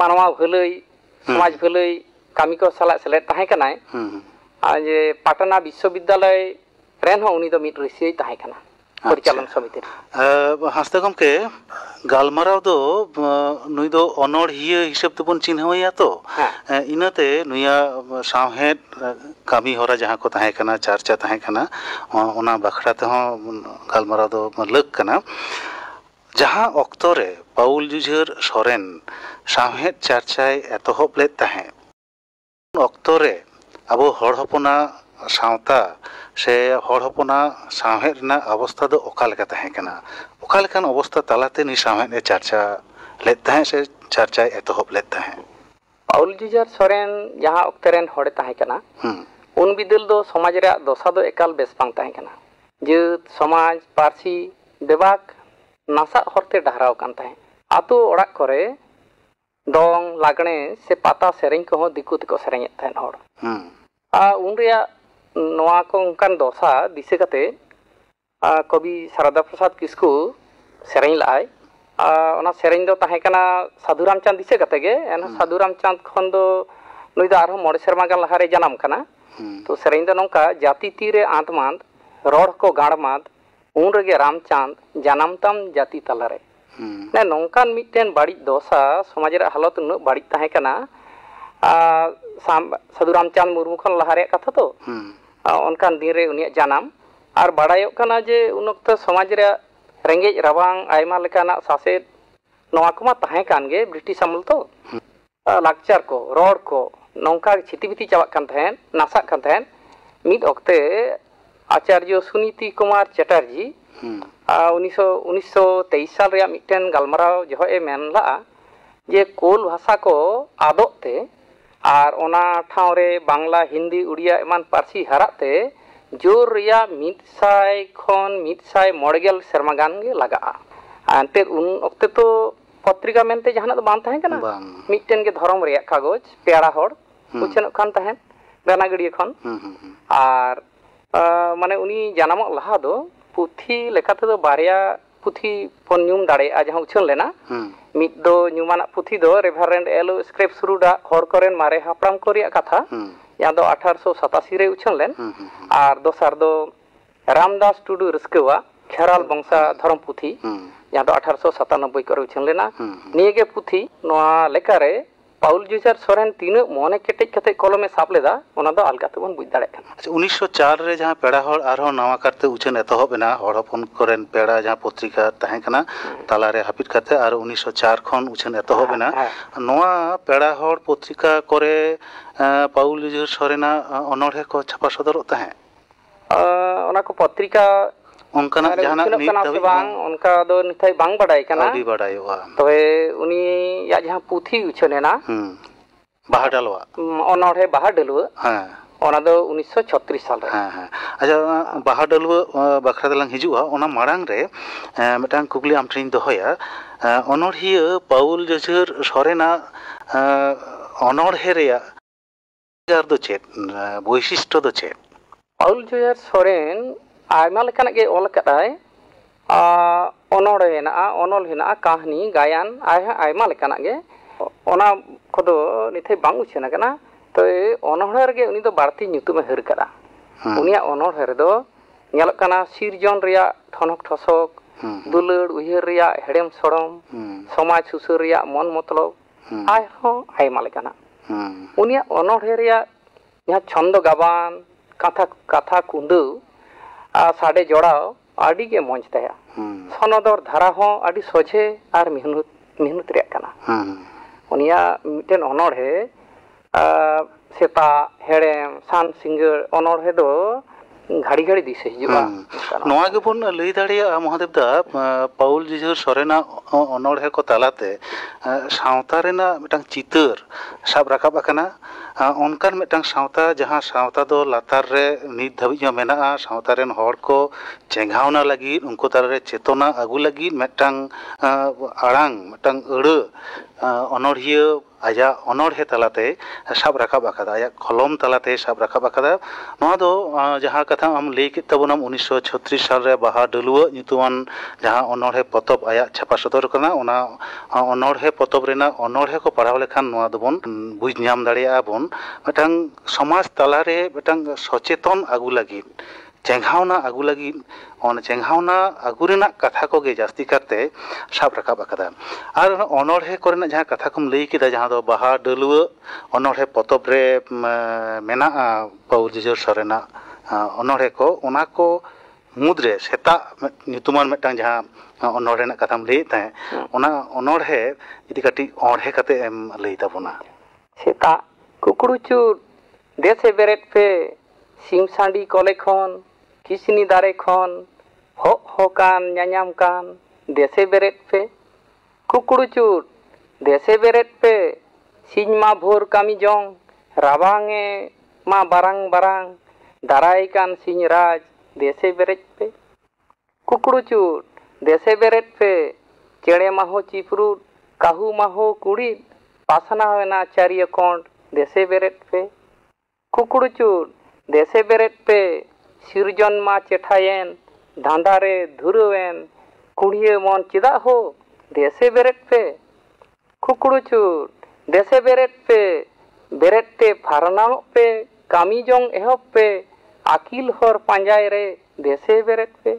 ᱢᱟᱱᱣᱟ ᱵᱷᱟᱹᱞᱟᱹᱭ ᱥᱚᱢᱟᱡᱽ ᱵᱷᱟᱹᱞᱟᱹᱭ ᱠᱟᱹᱢᱤ ᱠᱚ ᱥᱟᱞᱟᱜ ᱥᱮᱞᱮᱫ ᱛᱟᱦᱮᱸ ᱠᱟᱱᱟᱭ ᱟᱨ ᱡᱮ ᱯᱟᱴᱱᱟ ᱵᱤᱥᱥᱚ ᱵᱤᱫᱽᱫᱟᱞᱚᱭ ᱨᱮᱱ ᱦᱚᱸ ᱩᱱᱤ ᱫᱚ ᱢᱤᱫ ᱨᱤᱥᱤᱭᱟᱹᱭ ᱛᱟᱦᱮᱸ ᱠᱟᱱᱟ ᱯᱚᱨᱤᱪᱟᱞᱚᱱ ᱥᱚᱢᱤᱛᱤ ᱨᱮ ᱦᱟᱸᱥᱫᱟ ᱜᱚᱢᱠᱮ ᱜᱟᱞᱢᱟᱨᱟᱣ ᱫᱚ ᱱᱩᱭ ᱫᱚ ᱚᱱᱚᱬᱦᱤᱭᱟᱹ ᱦᱤᱥᱟᱹᱵ ᱛᱮᱵᱚᱱ ᱪᱤᱱᱦᱟᱹᱣᱮᱭᱟ ᱛᱚ ᱤᱱᱟᱹᱛᱮ ᱱᱩᱭᱟᱜ ᱥᱟᱶᱦᱮᱫ ᱠᱟᱹᱢᱤ ᱦᱚᱨᱟ ᱡᱟᱦᱟᱸ ᱠᱚ ᱛᱟᱦᱮᱸ ᱠᱟᱱᱟ ᱪᱟᱨᱪᱟ ᱛᱟᱦᱮᱸ ᱠᱟᱱᱟ ᱚᱱᱟ ᱵᱟᱠᱷᱨᱟ ᱛᱮᱦᱚᱸ ᱜᱟᱞᱢᱟᱨᱟᱣ ᱫᱚ ᱞᱟᱹᱠ ᱠᱟᱱᱟ ᱡᱟᱦᱟᱸ ᱚᱠᱛᱚ ᱨᱮ ᱯᱟᱣᱩᱞ ᱡᱩᱡᱷᱟᱹᱨ ᱥᱚᱨᱮᱱ ᱥᱟᱶᱦᱮᱫ ᱪᱟᱨᱪᱟᱭ ᱮᱛᱚᱦᱚᱵ ᱞᱮᱫ ᱛᱟᱦᱮᱸᱫ, ᱩᱱ ᱚᱠᱛᱚ ᱨᱮ ᱟᱵᱚ ᱦᱚᱲ ᱦᱚᱯᱚᱱᱟᱜ ᱥᱟᱶᱛᱟ ᱥᱮ ᱦᱚᱲ ᱦᱚᱯᱚᱱᱟᱜ ᱥᱟᱶᱦᱮᱫ ᱨᱮᱱᱟᱜ ᱟᱵᱚᱥᱛᱟ ᱫᱚ ᱚᱠᱟ ᱞᱮᱠᱟ ᱛᱟᱦᱮᱸ ᱠᱟᱱᱟ? ᱚᱠᱟ ᱞᱮᱠᱟᱱ ᱚᱵᱚᱥᱛᱟ ᱛᱟᱞᱟᱛᱮ ᱱᱩᱭ ᱥᱟᱶᱦᱮᱫ ᱮ ᱪᱟᱨᱪᱟ ᱞᱮᱫ ᱛᱟᱦᱮᱸᱫ ᱥᱮ ᱪᱟᱨᱪᱟᱭ ᱮᱛᱚᱦᱚᱵ ᱞᱮᱫ ᱛᱟᱦᱮᱸᱫ? ᱯᱟᱣᱩᱞ ᱡᱤᱡᱟᱨ ᱥᱚᱨᱮᱱ ᱡᱟᱦᱟᱸ ᱚᱠᱛᱮ ᱨᱮᱱ ᱦᱚᱲᱮ ᱛᱟᱦᱮᱸ ᱠᱟᱱᱟ ᱩᱱ ᱵᱤᱫᱟᱹᱞ ᱫᱚ ᱥᱚᱢᱟᱡᱽ ᱨᱮᱭᱟᱜ ᱫᱚᱥᱟ ᱫᱚ ᱮᱠᱟᱞ ᱵᱮᱥ ᱵᱟᱝ ᱛᱟᱦᱮᱸ ᱠᱟᱱᱟ ᱡᱟᱹᱛ ᱥᱚᱢᱟᱡᱽ ᱯᱟᱹᱨᱥᱤ ᱵᱮᱵᱟᱠ ᱱᱟᱥᱟᱜ ᱦᱚᱨ ᱛᱮ ᱰᱟᱦᱨᱟᱣ ᱟᱠᱟᱱ ᱛᱟᱦᱮᱸᱫ ᱟᱹᱛᱩ ᱚᱲᱟᱜ ᱠᱚᱨᱮ ᱫᱚᱝ ᱞᱟᱜᱽᱬᱮ ᱥᱮ ᱯᱟᱛᱟ ᱥᱮᱨᱮᱧ ᱠᱚᱦᱚᱸ ᱫᱤᱠᱩ ᱛᱮᱠᱚ ᱥᱮᱨᱮᱧ ᱮᱫ ᱛᱟᱦᱮᱸᱫ ᱦᱚᱲ ᱟᱨ ᱩᱱ ᱨᱮᱭᱟᱜ ᱱᱚᱣᱟ ᱠᱚ ᱚᱱᱠᱟᱱ ᱫᱚᱥᱟ ᱫᱤᱥᱟᱹ ᱠᱟᱛᱮᱫ ᱠᱚᱵᱤ ᱥᱟᱨᱚᱫᱟ ᱯᱨᱚᱥᱟᱫᱽ ᱠᱤᱥᱠᱩ ᱥᱮᱨᱮᱧ ᱞᱟᱜᱼᱟᱭ ᱚᱱᱟ ᱥᱮᱨᱮᱧ ᱫᱚ ᱛᱟᱦᱮᱸ ᱠᱟᱱᱟ ᱥᱟᱹᱫᱷᱩ ᱨᱟᱢᱪᱟᱸᱫᱽ ᱫᱤᱥᱟᱹ ᱠᱟᱛᱮ ᱜᱮ ᱮᱱᱦᱚᱸ ᱥᱟᱹᱫᱷᱩ ᱨᱟᱢᱪᱟᱸᱫᱽ ᱠᱷᱚᱱ ᱫᱚ ᱱᱩᱭ ᱫᱚ ᱟᱨᱦᱚᱸ ᱢᱚᱬᱮ ᱥᱮᱨᱢᱟ ᱜᱟᱱ ᱞᱟᱦᱟᱨᱮ ᱡᱟᱱᱟᱢ ᱠᱟᱱᱟ ᱛᱚ ᱥᱮᱨᱮᱧ ᱫᱚ ᱱᱚᱝᱠᱟ ᱡᱟᱹᱛᱤ ᱛᱤᱨᱮ ᱟᱸᱫᱽ ᱢᱟᱸᱫᱽ ᱨᱚᱲ ᱠᱚ ᱜᱟᱲ ᱢᱟᱫᱽ ᱩᱱ ᱨᱮᱜᱮ ᱨᱟᱢᱪᱟᱸᱫᱽ ᱡᱟᱱᱟᱢ ᱛᱟᱢ ᱡᱟᱹᱛᱤ ᱛᱟᱞᱟᱨᱮ ᱢᱟᱱᱮ ᱱᱚᱝᱠᱟᱱ ᱢᱤᱫᱴᱮᱱ ᱵᱟᱹᱲᱤᱡ ᱫᱚᱥᱟ ᱥᱚᱢᱟᱡᱽ ᱨᱮᱭᱟᱜ ᱦᱟᱞᱚᱛ ᱩᱱᱟᱹᱜ ᱵᱟᱹᱲᱤᱡ ᱛᱟᱦᱮᱸ ᱠᱟᱱᱟ ᱥᱟᱹᱫᱷᱩ ᱨᱟᱢᱪᱟᱸᱫᱽ ᱢᱩᱨᱢᱩ ᱠᱷᱚᱱ ᱞᱟᱦᱟ ᱨᱮᱭᱟᱜ ᱠᱟᱛᱷᱟ ᱛᱚ ᱚᱱᱠᱟᱱ ᱫᱤᱱ ᱨᱮ ᱩᱱᱤᱭᱟᱜ ᱡᱟᱱᱟᱢ ᱟᱨ ᱵᱟᱲᱟᱭᱚᱜ ᱠᱟᱱᱟ ᱡᱮ ᱩᱱ ᱚᱠᱛᱚ ᱥᱚᱢᱟᱡᱽ ᱨᱮᱭᱟᱜ ᱨᱮᱸᱜᱮᱡ ᱨᱟᱵᱟᱝ ᱟᱭᱢᱟ ᱞᱮᱠᱟᱱᱟᱜ ᱥᱟᱥᱮᱛ ᱱᱚᱣᱟ ᱠᱚᱢᱟ ᱛᱟᱦᱮᱸ ᱠᱟᱱ ᱜᱮ ᱵᱨᱤᱴᱤᱥ ᱟᱢᱚᱞ ᱛᱚ ᱞᱟᱠᱪᱟᱨ ᱠᱚ ᱨᱚᱲ ᱠᱚ ᱱᱚᱝᱠᱟ ᱪᱷᱤᱛᱤ ᱵᱤᱛᱤ ᱪᱟᱵᱟᱜ ᱠᱟᱱ ᱛᱟᱦᱮᱸᱫ ᱱᱟᱥᱟᱜ ᱠᱟᱱ ᱛᱟᱦᱮᱸᱫ ᱢᱤᱫ ᱚᱠᱛᱮ ᱟᱪᱟᱨᱡᱚ ᱥᱩᱱᱤᱛᱤ ᱠᱩᱢᱟᱨ ᱪᱮᱴᱟᱨᱡᱤ ᱩᱱᱤᱥᱚ ᱩᱱᱤᱥᱚ ᱛᱮᱭᱤᱥ ᱥᱟᱞ ᱨᱮᱭᱟᱜ ᱢᱤᱫᱴᱮᱱ ᱜᱟᱞᱢᱟᱨᱟᱣ ᱡᱚᱦᱚᱜ ᱮ ᱢᱮᱱ ᱞᱟᱜᱼᱟ ᱡᱮ ᱠᱳᱞ ᱵᱷᱟᱥᱟ ᱠᱚ ᱟᱫᱚᱜ ᱛᱮ ᱟᱨ ᱚᱱᱟ ᱴᱷᱟᱶ ᱨᱮ ᱵᱟᱝᱞᱟ ᱦᱤᱱᱫᱤ ᱩᱲᱤᱭᱟ ᱮᱢᱟᱱ ᱯᱟᱹᱨᱥᱤ ᱦᱟᱨᱟᱜ ᱛᱮ ᱡᱳᱨ ᱨᱮᱭᱟᱜ ᱢᱤᱫ ᱥᱟᱭ ᱠᱷᱚᱱ ᱢᱤᱫ ᱥᱟᱭ ᱢᱚᱬᱮ ᱜᱮᱞ ᱥᱮᱨᱢᱟ ᱜᱟᱱ ᱜᱮ ᱞᱟᱜᱟᱜᱼᱟ ᱮᱱᱛᱮᱫ ᱩᱱ ᱚᱠᱛᱮ ᱛᱚ ᱯᱚᱛᱨᱤᱠᱟ ᱢᱮᱱᱛᱮ ᱡᱟᱦᱟᱱᱟᱜ ᱫᱚ ᱵᱟᱝ ᱛᱟᱦᱮᱸ ᱠᱟᱱᱟ ᱢᱤᱫᱴᱮᱱ ᱜᱮ ᱫᱷᱚᱨᱚᱢ ᱨᱮᱭᱟᱜ ᱠᱟᱜᱚᱡᱽ ᱯᱮᱭᱟᱲᱟ ᱦᱚᱲ ᱩᱪᱷᱟᱹᱱᱚᱜ ᱠᱟᱱ ᱛᱟᱦᱮᱸᱫ ᱜᱟᱱᱟᱜᱟᱹᱲᱤᱭᱟᱹ ᱠᱷᱚᱱ ᱟᱨ ᱢᱟᱱᱮ ᱩᱱᱤ ᱡᱟᱱᱟᱢᱚᱜ ᱞᱟᱦᱟ ᱫᱚ ᱯᱩᱛᱷᱤ ᱞᱮᱠᱟᱛᱮ ᱫᱚ ᱵᱟᱨᱭᱟ ᱯᱩᱛᱷᱤ ᱵᱚᱱ ᱧᱩᱢ ᱫᱟᱲᱮᱭᱟᱜᱼᱟ ᱡᱟᱦᱟᱸ ᱩᱪᱷᱟᱹᱱ ᱞᱮᱱᱟ ᱢᱤᱫ ᱫᱚ ᱧᱩᱢᱟᱱᱟᱜ ᱯᱩᱛᱷᱤ ᱫᱚ ᱨᱮᱵᱷᱟᱨᱮᱱᱰ ᱮᱞ ᱳ ᱥᱠᱨᱮᱯ ᱥᱩᱨᱩᱰᱟ ᱦᱚᱲ ᱠᱚᱨᱮᱱ ᱢᱟᱨᱮ ᱦᱟᱯᱲᱟᱢ ᱠᱚ ᱨᱮᱭᱟᱜ ᱠᱟᱛᱷᱟ ᱡᱟᱦᱟᱸ ᱫᱚ ᱟᱴᱷᱟᱨᱚᱥᱚ ᱥᱟᱛᱟᱥᱤ ᱨᱮ ᱩᱪᱷᱟᱹᱱ ᱞᱮᱱ ᱟᱨ ᱫᱚᱥᱟᱨ ᱫᱚ ᱨᱟᱢᱫᱟᱥ ᱴᱩᱰᱩ ᱨᱟᱹᱥᱠᱟᱹᱣᱟᱜ ᱠᱷᱮᱨᱣᱟᱞ ᱵᱚᱝᱥᱟ ᱫᱷᱚᱨᱚᱢ ᱯᱩᱛᱷᱤ ᱡᱟᱦᱟᱸ ᱫᱚ ᱟᱴᱷᱟᱨᱚᱥᱚ ᱥᱟᱛᱟᱱᱚᱵᱵᱚᱭ ᱠᱚᱨᱮ ᱩᱪᱷᱟᱹᱱ ᱞᱮᱱᱟ ᱱᱤᱭᱟᱹ ᱜᱮ ᱯᱩᱛᱷᱤ ᱱᱚᱣᱟ ᱞᱮᱠᱟ ᱨᱮ ᱯᱟᱣᱩᱞ ᱡᱩᱡᱷᱟᱨ ᱥᱚᱨᱮᱱ ᱛᱤᱱᱟᱹᱜ ᱢᱚᱱᱮ ᱠᱮᱴᱮᱡ ᱠᱟᱛᱮ ᱠᱚᱞᱚᱢᱮ ᱥᱟᱵ ᱞᱮᱫᱟ ᱚᱱᱟ ᱫᱚ ᱟᱞᱜᱟ ᱛᱮ ᱵᱚᱱ ᱵᱩᱡᱽ ᱫᱟᱲᱮᱭᱟᱜ ᱠᱟᱱᱟ ᱟᱪᱪᱷᱟ ᱩᱱᱤᱥᱥᱚ ᱪᱟᱨ ᱨᱮ ᱡᱟᱦᱟᱸ ᱯᱮᱲᱟ ᱦᱚᱲ ᱟᱨᱦᱚᱸ ᱱᱟᱣᱟ ᱠᱟᱨᱛᱮ ᱩᱪᱷᱟᱹᱱ ᱮᱛᱚᱦᱚᱵ ᱮᱱᱟ ᱦᱚᱲ ᱦᱚᱯᱚᱱ ᱠᱚᱨᱮᱱ ᱯᱮᱲᱟ ᱡᱟᱦᱟᱸ ᱯᱚᱛᱨᱤᱠᱟ ᱛᱟᱦᱮᱸ ᱠᱟᱱᱟ ᱛᱟᱞᱟ ᱨᱮ ᱦᱟᱹᱯᱤᱫ ᱠᱟᱛᱮ ᱟᱨ ᱩᱱᱤᱥᱥᱚ ᱪᱟᱨ ᱠᱷᱚᱱ ᱩᱪᱷᱟᱹᱱ ᱮᱛᱚᱦᱚᱵ ᱮᱱᱟ ᱱᱚᱣᱟ ᱯᱮᱲᱟ ᱦᱚᱲ ᱯᱚᱛᱨᱤᱠᱟ ᱠᱚᱨᱮ ᱯᱟᱣᱩᱞ ᱡᱩᱡᱷᱟᱨ ᱥᱚᱨᱮᱱᱟᱜ ᱚᱱᱚᱬᱦᱮ ᱠᱚ ᱪᱷᱟᱯᱟ ᱥᱚᱫᱚᱨᱚᱜ ᱛᱟᱦᱮᱸᱫ ᱚᱱᱟ ᱠᱚ ᱯᱚᱛᱨᱤᱠᱟ ᱚᱱᱠᱟᱱᱟᱜ ᱡᱟᱦᱟᱱᱟᱜ ᱱᱤᱛ ᱠᱟᱱᱟ ᱥᱮ ᱵᱟᱝ ᱚᱱᱠᱟ ᱫᱚ ᱱᱤᱛ ᱫᱷᱟᱹᱵᱤᱡ ᱵᱟᱝ ᱵᱟᱰᱟᱭ ᱠᱟᱱᱟ ᱟᱹᱰᱤ ᱵᱟᱰᱟᱭᱚᱜᱼᱟ ᱛᱚᱵᱮ ᱩᱱᱤᱭᱟᱜ ᱡᱟᱦᱟᱸ ᱯᱩᱛᱷᱤ ᱩᱪᱷᱟᱹᱱ ᱮᱱᱟ ᱵᱟᱦᱟ ᱰᱟᱞᱣᱟ ᱚᱱᱚᱬᱦᱮ ᱵᱟᱦᱟ ᱰᱟᱹᱞᱣᱟᱹ ᱦᱮᱸ ᱚᱱᱟ ᱫᱚ ᱩᱱᱤᱥᱥᱚ ᱪᱷᱚᱛᱨᱤᱥ ᱥᱟᱞ ᱨᱮ ᱦᱮᱸ ᱦᱮᱸ ᱟᱪᱪᱷᱟ ᱵᱟᱦᱟ ᱰᱟᱹᱞᱣᱟᱹ ᱵᱟᱠᱷᱨᱟ ᱛᱮᱞᱟᱝ ᱦᱤᱡᱩᱜᱼᱟ ᱚᱱᱟ ᱢᱟᱲᱟᱝ ᱨᱮ ᱢᱤᱫᱴᱟᱝ ᱠᱩᱠᱞᱤ ᱟᱢ ᱴᱷᱮᱱᱤᱧ ᱫᱚᱦᱚᱭᱟ ᱚᱱᱚᱬᱦᱤᱭᱟᱹ ᱯᱟᱣᱩᱞ ᱡᱚᱡᱷᱟᱹᱨ ᱥᱚᱨᱮᱱᱟᱜ ᱚᱱᱚᱬᱦᱮ ᱨᱮᱭᱟᱜ ᱡᱚᱭᱟᱨ ᱫᱚ ᱪᱮᱫ ᱵᱳᱭᱥᱤᱥᱴᱚ ᱫᱚ ᱪᱮᱫ? ᱯᱟᱣᱩᱞ ᱡᱚᱭᱟᱨ ᱥᱚᱨᱮᱱ ᱟᱭᱢᱟ ᱞᱮᱠᱟᱱᱟᱜ ᱜᱮ ᱚᱞ ᱟᱠᱟᱫᱟᱭ ᱚᱱᱚᱬᱦᱮ ᱦᱮᱱᱟᱜᱼᱟ ᱚᱱᱚᱞ ᱦᱮᱱᱟᱜᱼᱟ ᱠᱟᱹᱦᱱᱤ ᱜᱟᱭᱟᱱ ᱟᱨᱦᱚᱸ ᱟᱭᱢᱟ ᱞᱮᱠᱟᱱᱟᱜ ᱜᱮ ᱚᱱᱟ ᱠᱚᱫᱚ ᱱᱤᱛ ᱦᱟᱹᱵᱤᱡ ᱵᱟᱝ ᱩᱪᱷᱟᱹᱱ ᱟᱠᱟᱱᱟ ᱛᱚᱵᱮ ᱚᱱᱚᱬᱦᱮ ᱨᱮᱜᱮ ᱩᱱᱤ ᱫᱚ ᱵᱟᱹᱲᱛᱤ ᱧᱩᱛᱩᱢᱮ ᱦᱟᱹᱨ ᱟᱠᱟᱫᱼᱟ ᱩᱱᱤᱭᱟᱜ ᱚᱱᱚᱬᱦᱮ ᱨᱮᱫᱚ ᱧᱮᱞᱚᱜ ᱠᱟᱱᱟ ᱥᱤᱨᱡᱚᱱ ᱨᱮᱭᱟᱜ ᱴᱷᱚᱱᱚᱠ ᱴᱷᱚᱥᱚᱠ ᱫᱩᱞᱟᱹᱲ ᱩᱭᱦᱟᱹᱨ ᱨᱮᱭᱟᱜ ᱦᱮᱲᱮᱢ ᱥᱚᱲᱚᱢ ᱥᱚᱢᱟᱡᱽ ᱥᱩᱥᱟᱹᱨ ᱨᱮᱭᱟᱜ ᱢᱚᱱ ᱢᱚᱛᱞᱚᱵ ᱟᱨᱦᱚᱸ ᱟᱭᱢᱟ ᱞᱮᱠᱟᱱᱟᱜ ᱩᱱᱤᱭᱟᱜ ᱚᱱᱚᱬᱦᱮᱸ ᱨᱮᱭᱟᱜ ᱡᱟᱦᱟᱸ ᱪᱷᱚᱱᱫᱚ ᱜᱟᱵᱟᱱ ᱠᱟᱛᱷᱟ ᱠᱟᱛᱷᱟ ᱠᱩᱸᱫᱟᱹᱣ ᱟᱨ ᱥᱟᱰᱮ ᱡᱚᱲᱟᱣ ᱟᱹᱰᱤ ᱜᱮ ᱢᱚᱡᱽ ᱛᱟᱭᱟ ᱥᱚᱱᱚᱫᱚᱨ ᱫᱷᱟᱨᱟ ᱦᱚᱸ ᱟᱹᱰᱤ ᱥᱚᱡᱷᱮ ᱟᱨ ᱢᱤᱦᱱᱩᱛ ᱢᱤᱦᱱᱩᱛ ᱨᱮᱭᱟᱜ ᱠᱟᱱᱟ ᱩᱱᱤᱭᱟᱜ ᱢᱤᱫᱴᱮᱱ ᱚᱱᱚᱬᱦᱮᱸ ᱥᱮᱛᱟ ᱦᱮᱲᱮᱢ ᱥᱟᱱ ᱥᱤᱸᱜᱟᱹᱲ ᱚᱱᱚᱬᱦᱮ ᱫᱚ ᱜᱷᱟᱹᱲᱤ ᱜᱷᱟᱹᱲᱤ ᱫᱤᱥᱟᱹ ᱦᱤᱡᱩᱜᱼᱟ ᱱᱚᱣᱟ ᱜᱮᱵᱚᱱ ᱞᱟᱹᱭ ᱫᱟᱲᱮᱭᱟᱜᱼᱟ ᱢᱚᱦᱟᱫᱮᱵ ᱫᱟ ᱯᱟᱣᱩᱞ ᱡᱤᱡᱷᱟᱹᱨ ᱥᱚᱨᱮᱱᱟᱜ ᱚᱱᱚᱬᱦᱮ ᱠᱚ ᱛᱟᱞᱟᱛᱮ ᱥᱟᱶᱛᱟ ᱨᱮᱱᱟᱜ ᱢᱤᱫᱴᱟᱝ ᱪᱤᱛᱟᱹᱨ ᱥᱟᱵ ᱨᱟᱠᱟᱵ ᱟᱠᱟᱱᱟ ᱚᱱᱠᱟᱱ ᱢᱤᱫᱴᱟᱝ ᱥᱟᱶᱛᱟ ᱡᱟᱦᱟᱸ ᱥᱟᱶᱛᱟ ᱫᱚ ᱞᱟᱛᱟᱨ ᱨᱮ ᱱᱤᱛ ᱫᱷᱟᱹᱵᱤᱡ ᱦᱚᱸ ᱢᱮᱱᱟᱜᱼᱟ ᱥᱟᱶᱛᱟ ᱨᱮᱱ ᱦᱚᱲ ᱠᱚ ᱪᱮᱸᱜᱷᱟᱣᱱᱟ ᱞᱟᱹᱜᱤᱫ ᱩᱱᱠᱩ ᱛᱟᱞᱟᱨᱮ ᱪᱮᱛᱚᱱᱟ ᱟᱹᱜᱩ ᱞᱟᱹᱜᱤᱫ ᱢᱤᱫᱴᱟᱝ ᱟᱲᱟᱝ ᱢᱤᱫᱴᱟᱝ ᱟᱹᱲᱟᱹ ᱚᱱᱚᱬᱦᱤᱭᱟᱹ ᱟᱡᱟᱜ ᱚᱱᱚᱬᱦᱮ ᱛᱟᱞᱟ ᱛᱮᱭ ᱥᱟᱵ ᱨᱟᱠᱟᱵ ᱟᱠᱟᱫᱟ, ᱟᱡᱟᱜ ᱠᱚᱞᱚᱢ ᱛᱟᱞᱟ ᱛᱮᱭ ᱥᱟᱵ ᱨᱟᱠᱟᱵ ᱟᱠᱟᱫᱟ᱾ ᱱᱚᱶᱟ ᱫᱚ ᱡᱟᱦᱟᱸ ᱠᱟᱛᱷᱟ ᱟᱢ ᱞᱟᱹᱭ ᱠᱮᱫ ᱛᱟᱵᱚᱱᱟᱢ ᱩᱱᱤᱥ ᱥᱚ ᱪᱷᱚᱛᱨᱤᱥ ᱥᱟᱞ ᱨᱮ ᱵᱟᱦᱟ ᱰᱟᱹᱞᱩᱣᱟᱹᱜ ᱧᱩᱛᱩᱢᱟᱱ ᱡᱟᱦᱟᱸ ᱚᱱᱚᱬᱦᱮ ᱯᱚᱛᱚᱵ ᱟᱭᱟᱜ ᱪᱷᱟᱯᱟ ᱥᱚᱫᱚᱨ ᱟᱠᱟᱱᱟ ᱚᱱᱟ ᱚᱱᱚᱬᱦᱮ ᱯᱚᱛᱚᱵ ᱨᱮᱱᱟᱜ ᱚᱱᱚᱬᱦᱮ ᱠᱚ ᱯᱟᱲᱦᱟᱣ ᱞᱮᱠᱷᱟᱱ ᱱᱚᱶᱟ ᱫᱚ ᱵᱚᱱ ᱵᱩᱡᱽ ᱧᱟᱢ ᱫᱟᱲᱮᱭᱟᱜᱼᱟ ᱵᱚᱱ ᱢᱤᱫᱴᱟᱝ ᱥᱚᱢᱟᱡᱽ ᱛᱟᱞᱟ ᱨᱮ ᱢᱤᱫᱴᱟᱝ ᱥᱚᱪᱮᱛᱚᱱ ᱟᱹᱜᱩ ᱞᱟᱹᱜᱤᱫ ᱪᱮᱸᱜᱷᱟᱣᱱᱟ ᱟᱹᱜᱩ ᱞᱟᱹᱜᱤᱫ ᱚᱱᱟ ᱪᱮᱸᱜᱷᱟᱣᱱᱟ ᱟᱹᱜᱩ ᱨᱮᱱᱟᱜ ᱠᱟᱛᱷᱟ ᱠᱚᱜᱮ ᱡᱟᱹᱥᱛᱤ ᱠᱟᱨᱛᱮ ᱥᱟᱵ ᱨᱟᱠᱟᱵ ᱟᱠᱟᱫᱟ ᱟᱨ ᱚᱱᱟ ᱚᱱᱚᱬᱦᱮᱸ ᱠᱚᱨᱮᱱᱟᱜ ᱡᱟᱦᱟᱸ ᱠᱟᱛᱷᱟ ᱠᱚᱢ ᱞᱟᱹᱭ ᱠᱮᱫᱟ ᱡᱟᱦᱟᱸ ᱫᱚ ᱵᱟᱦᱟ ᱰᱟᱹᱞᱣᱟᱹᱜ ᱚᱱᱚᱬᱦᱮᱸ ᱯᱚᱛᱚᱵ ᱨᱮ ᱢᱮᱱᱟᱜᱼᱟ ᱵᱟᱹᱵᱩ ᱡᱩᱡᱷᱟᱹᱨ ᱥᱚᱨᱮᱱᱟᱜ ᱚᱱᱚᱬᱦᱮᱸ ᱠᱚ ᱚᱱᱟ ᱠᱚ ᱢᱩᱫᱽ ᱨᱮ ᱥᱮᱛᱟᱜ ᱧᱩᱛᱩᱢᱟᱱ ᱢᱤᱫᱴᱟᱝ ᱡᱟᱦᱟᱸ ᱚᱱᱚᱬᱦᱮᱸ ᱨᱮᱱᱟᱜ ᱠᱟᱛᱷᱟᱢ ᱞᱟᱹᱭᱮᱫ ᱛᱟᱦᱮᱸᱫ ᱚᱱᱟ ᱚᱱᱚᱬᱦᱮᱸ ᱡᱩᱫᱤ ᱠᱟᱹᱴᱤᱡ ᱚᱬᱦᱮᱸ ᱠᱟᱛᱮᱫ ᱮᱢ ᱞᱟᱹᱭ ᱛᱟᱵᱚᱱᱟ ᱥᱮᱛᱟᱜ ᱠᱩᱠᱲᱩᱪᱩᱨ ᱫᱮᱥᱮ ᱵᱮᱨᱮᱫ ᱯᱮ ᱥᱤᱢ ᱥᱟᱺᱰᱤ ᱠᱚᱞᱮ ᱠᱷᱚᱱ ᱠᱤᱥᱱᱤ ᱫᱟᱨᱮ ᱠᱷᱚᱱ ᱦᱚᱜ ᱦᱚ ᱠᱟᱱ ᱧᱟᱧᱟᱢ ᱠᱟᱱ ᱫᱮᱥᱮ ᱵᱮᱨᱮᱫ ᱯᱮ ᱠᱩᱠᱲᱩ ᱪᱩᱴ ᱫᱮᱥᱮ ᱵᱮᱨᱮᱫ ᱯᱮ ᱥᱤᱧ ᱢᱟ ᱵᱷᱳᱨ ᱠᱟᱹᱢᱤ ᱡᱚᱝ ᱨᱟᱵᱟᱝ ᱮ ᱢᱟ ᱵᱟᱨᱟᱝ ᱵᱟᱨᱟᱝ ᱫᱟᱨᱟᱭ ᱠᱟᱱ ᱥᱤᱧ ᱨᱟᱡᱽ ᱫᱮᱥᱮ ᱵᱮᱨᱮᱫ ᱯᱮ᱾ ᱠᱩᱠᱲᱩ ᱪᱩᱴ, ᱫᱮᱥᱮ ᱵᱮᱨᱮᱫ ᱯᱮ, ᱪᱮᱬᱮ ᱢᱟ ᱦᱳ ᱪᱤᱯᱨᱩᱫ, ᱠᱟᱹᱦᱩ ᱢᱟ ᱦᱳ ᱠᱩᱬᱤᱫ, ᱯᱟᱥᱱᱟᱣ ᱮᱱᱟ ᱪᱟᱹᱨᱤᱭᱟᱹ ᱠᱚᱸᱰ, ᱫᱮᱥᱮ ᱵᱮᱨᱮᱫ ᱯᱮ᱾ ᱠᱩᱠᱲᱩ ᱪᱩᱴ, ᱫᱮᱥᱮ ᱵᱮᱨᱮᱫ ᱯᱮ, ᱥᱤᱨᱡᱚᱱ ᱢᱟ ᱪᱮᱴᱷᱟᱭᱮᱱ, ᱫᱷᱟᱸᱫᱟ ᱨᱮ ᱫᱷᱩᱨᱟᱹᱣ ᱮᱱ, ᱠᱩᱬᱤᱭᱟᱹ ᱢᱚᱱ ᱪᱮᱫᱟᱜ ᱦᱳ, ᱫᱮᱥᱮ ᱵᱮᱨᱮᱫ ᱯᱮ᱾ ᱠᱷᱩᱠᱲᱩᱪᱩᱨ, ᱫᱮᱥᱮ ᱵᱮᱨᱮᱫ ᱯᱮ, ᱵᱮᱨᱮᱫ ᱛᱮ ᱯᱷᱟᱨᱱᱟᱣᱜ ᱯᱮ, ᱠᱟᱹᱢᱤ ᱡᱚᱝ ᱮᱦᱚᱵ ᱯᱮ, ᱟᱹᱠᱤᱞ ᱦᱚᱨ ᱯᱟᱸᱡᱟᱭ ᱨᱮ ᱫᱮᱥᱮ ᱵᱮᱨᱮᱫ ᱯᱮ᱾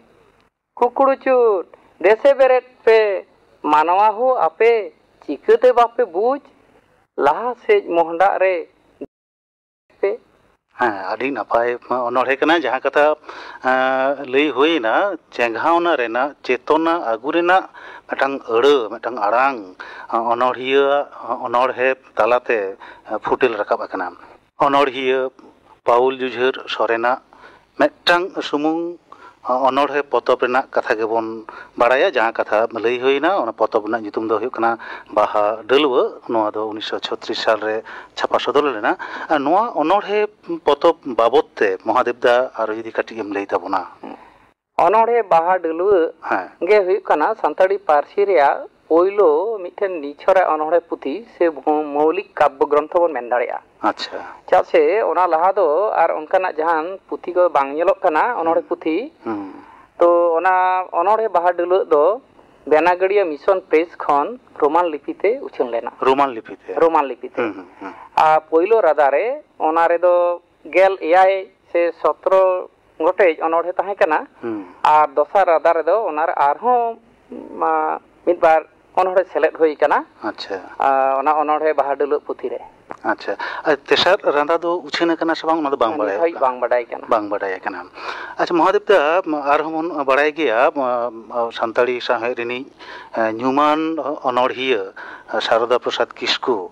ᱠᱷᱩᱠᱲᱩᱪᱩᱨ, ᱫᱮᱥᱮ ᱵᱮᱨᱮᱫ ᱯᱮ, ᱢᱟᱱᱣᱟ ᱦᱳ ᱟᱯᱮ, ᱪᱤᱠᱟᱹᱛᱮ ᱵᱟᱯᱮ ᱵᱩᱡᱽ? ᱞᱟᱦᱟ ᱥᱮᱡ ᱢᱚᱦᱰᱟᱜ ᱨᱮ᱾ ᱯᱮ ᱦᱮᱸ ᱟᱹᱰᱤ ᱱᱟᱯᱟᱭ ᱚᱱᱚᱲᱦᱮ ᱠᱟᱱᱟ ᱡᱟᱦᱟᱸ ᱠᱟᱛᱷᱟ ᱞᱟᱹᱭ ᱦᱩᱭᱱᱟ ᱪᱮᱸᱜᱷᱟᱣᱱᱟ ᱨᱮᱱᱟᱜ ᱪᱮᱛᱚᱱᱟ ᱟᱹᱜᱩ ᱨᱮᱱᱟᱜ ᱢᱤᱫᱴᱟᱝ ᱟᱹᱲᱟᱹ ᱢᱤᱫᱴᱟᱝ ᱟᱲᱟᱝ ᱚᱱᱚᱲᱦᱤᱭᱟᱹ ᱟᱜ ᱚᱱᱚᱲᱦᱮ ᱛᱟᱞᱟᱛᱮ ᱯᱷᱩᱴᱮᱞ ᱨᱟᱠᱟᱵ ᱟᱠᱟᱱᱟ ᱚᱱᱚᱲᱦᱤᱭᱟᱹ ᱯᱟᱣᱩᱞ ᱡᱩᱡᱷᱟᱹᱨ ᱥᱚᱨᱮᱱᱟᱜ ᱢᱤᱫᱴᱟᱝ ᱥᱩᱢᱩᱝ ᱚᱱᱚᱬᱦᱮ ᱯᱚᱛᱚᱵ ᱨᱮᱱᱟᱜ ᱠᱟᱛᱷᱟ ᱜᱮᱵᱚᱱ ᱵᱟᱲᱟᱭᱟ ᱡᱟᱦᱟᱸ ᱠᱟᱛᱷᱟ ᱞᱟᱹᱭ ᱦᱩᱭᱮᱱᱟ ᱚᱱᱟ ᱯᱚᱛᱚᱵ ᱨᱮᱱᱟᱜ ᱧᱩᱛᱩᱢ ᱫᱚ ᱦᱩᱭᱩᱜ ᱠᱟᱱᱟ ᱵᱟᱦᱟ ᱰᱟᱹᱞᱣᱟᱹ ᱱᱚᱣᱟ ᱫᱚ ᱩᱱᱤᱥᱥᱚ ᱪᱷᱚᱛᱨᱤᱥ ᱥᱟᱞ ᱨᱮ ᱪᱷᱟᱯᱟ ᱥᱚᱫᱚᱨ ᱞᱮᱱᱟ ᱟᱨ ᱱᱚᱣᱟ ᱚᱱᱚᱬᱦᱮ ᱯᱚᱛᱚᱵ ᱵᱟᱵᱚᱛ ᱛᱮ ᱢᱚᱦᱟᱫᱮᱵ ᱫᱟ ᱟᱨᱚ ᱡᱩᱫᱤ ᱠᱟᱹᱴᱤᱡ ᱮᱢ ᱞᱟᱹᱭ ᱛᱟᱵᱚᱱᱟ᱾ ᱚᱱᱚᱬᱦᱮ ᱵᱟᱦᱟ ᱰᱟᱹᱞᱣᱟᱹ ᱜᱮ ᱦᱩᱭᱩᱜ ᱠᱟᱱᱟ ᱥᱟᱱᱛᱟᱲᱤ ᱯᱟᱹᱨᱥᱤ ᱨᱮᱭᱟᱜ ᱯᱳᱭᱞᱳ ᱢᱤᱫᱴᱮᱱ ᱱᱤᱪᱷᱚᱨᱟᱜ ᱚᱱᱚᱬᱦᱮ ᱯᱩᱛᱷᱤ ᱥᱮ ᱢᱚᱣᱞᱤᱠ ᱠᱟᱵᱽᱵᱚ ᱜᱨᱚᱱᱛᱷᱚ ᱵᱚᱱ ᱢᱮᱱ ᱫᱟᱲᱮᱭᱟᱜᱼᱟ᱾ ᱟᱪᱪᱷᱟ᱾ ᱪᱮᱫᱟᱜ ᱥᱮ ᱚᱱᱟ ᱞᱟᱦᱟ ᱫᱚ ᱟᱨ ᱚᱱᱠᱟᱱᱟᱜ ᱡᱟᱦᱟᱱ ᱯᱩᱛᱷᱤ ᱠᱚ ᱵᱟᱝ ᱧᱮᱞᱚᱜ ᱠᱟᱱᱟ ᱚᱱᱚᱬᱦᱮ ᱯᱩᱛᱷᱤ᱾ ᱛᱚ ᱚᱱᱟ ᱚᱱᱚᱬᱦᱮ ᱵᱟᱦᱟ ᱰᱟᱹᱞᱟᱹᱜ ᱫᱚ ᱵᱮᱱᱟᱜᱟᱲᱤᱭᱟ ᱢᱤᱥᱚᱱ ᱯᱨᱮᱥ ᱠᱷᱚᱱ ᱨᱳᱢᱟᱱ ᱞᱤᱯᱤ ᱛᱮ ᱩᱪᱷᱟᱹᱱ ᱞᱮᱱᱟ᱾ ᱨᱳᱢᱟᱱ ᱞᱤᱯᱤ ᱛᱮ? ᱨᱳᱢᱟᱱ ᱞᱤᱯᱤ ᱛᱮ᱾ ᱟᱨ ᱯᱳᱭᱞᱳ ᱨᱟᱫᱟ ᱨᱮ ᱚᱱᱟ ᱨᱮᱫᱚ ᱜᱮᱞ ᱮᱭᱟᱭ ᱥᱮ ᱥᱚᱛᱨᱚ ᱜᱚᱴᱮᱡ ᱚᱱᱚᱬᱦᱮ ᱛᱟᱦᱮᱸ ᱠᱟᱱᱟ ᱟᱨ ᱫᱚᱥᱟᱨ ᱨᱟᱫᱟ ᱨᱮᱫᱚ ᱚᱱᱟ ᱨᱮ ᱟᱨᱦᱚᱸ ᱢᱤᱫ ᱵᱟᱨ ᱚᱱᱚᱬᱦᱮ ᱥᱮᱞᱮᱫ ᱦᱩᱭ ᱟᱠᱟᱱᱟ ᱚᱱᱟ ᱚᱱᱚᱬᱦᱮ ᱵᱟᱦᱟ ᱰᱟᱹᱞᱩᱣᱟᱹᱜ ᱯᱩᱛᱷᱤ ᱨᱮ᱾ ᱟᱪᱪᱷᱟ ᱟᱨ ᱛᱮᱥᱟᱨ ᱨᱟᱫᱟ ᱫᱚ ᱩᱪᱷᱟᱹᱱ ᱟᱠᱟᱱᱟ ᱥᱮ ᱵᱟᱝ ᱚᱱᱟ ᱫᱚ ᱵᱟᱝ ᱵᱟᱲᱟᱭᱚᱜ ᱠᱟᱱᱟ᱾ ᱱᱤᱛ ᱦᱟᱹᱵᱤᱡ ᱵᱟᱝ ᱵᱟᱰᱟᱭ ᱟᱠᱟᱱᱟ᱾ ᱵᱟᱝ ᱵᱟᱰᱟᱭ ᱟᱠᱟᱱᱟ᱾ ᱟᱪᱪᱷᱟ ᱢᱚᱦᱟᱫᱮᱵ ᱫᱟ ᱟᱨᱦᱚᱸ ᱵᱚᱱ ᱵᱟᱲᱟᱭ ᱜᱮᱭᱟ ᱥᱟᱱᱛᱟᱲᱤ ᱥᱟᱶᱦᱮᱫ ᱨᱤᱱᱤᱡ ᱧᱩᱢᱟᱱ ᱚᱱᱚᱬᱦᱤᱭᱟᱹ ᱥᱟᱨᱚᱫᱟ ᱯᱨᱚᱥᱟᱫᱽ ᱠᱤᱥᱠᱩ